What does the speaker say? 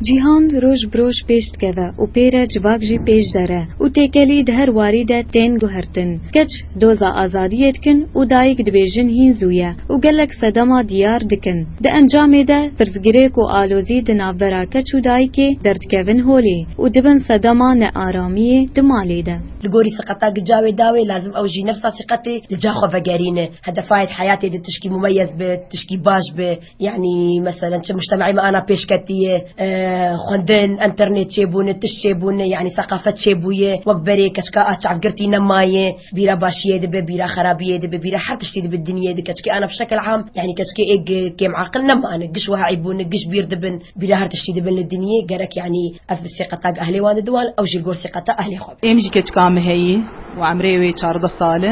Cîhan roj bi roj pêş dikeve û pê re civak jî pêş dere û têkelî di her warî de tên guhertin. Keç doza azadiyê dikin û dayik dibêjin hîn zû ye û gelek sedema diyar dikin. Di encamê de pirsgirêk û alozî di navbera keç û dayikê derdikevin holê û dibin sedema nearamiyê di malê de. Li gorî siqeta gica wê dawê lazim ew jî nefsa siqetê li ca xwe vegerîne. Hedefa yê di heyatê de tişkî mumeyez be, tişkî baş be. Yanî meselen çi muştemeyê me ana pêşketiyê, xwendin, înternêt çêbûne, tişt çêbûne yanî seqafet çêbûye wek berê keçika a çavgirtî nemayê bîra başiyê dibe bîra xerabiyê dibe bîra her tiştî dibe dinyê de keçikê ana bi şekil am yanî keçikê ê kêmaqil nemane giş wiha eyîbûne giş bîr dibin bîra her tiştî dibin li dinyê gerek yanî ev sîqeta gi ehlê wan de diwan ew jî li gor sîqeta ehlê xwe be. Êm jî keçika me heyî û emrê wê çardeh sal e.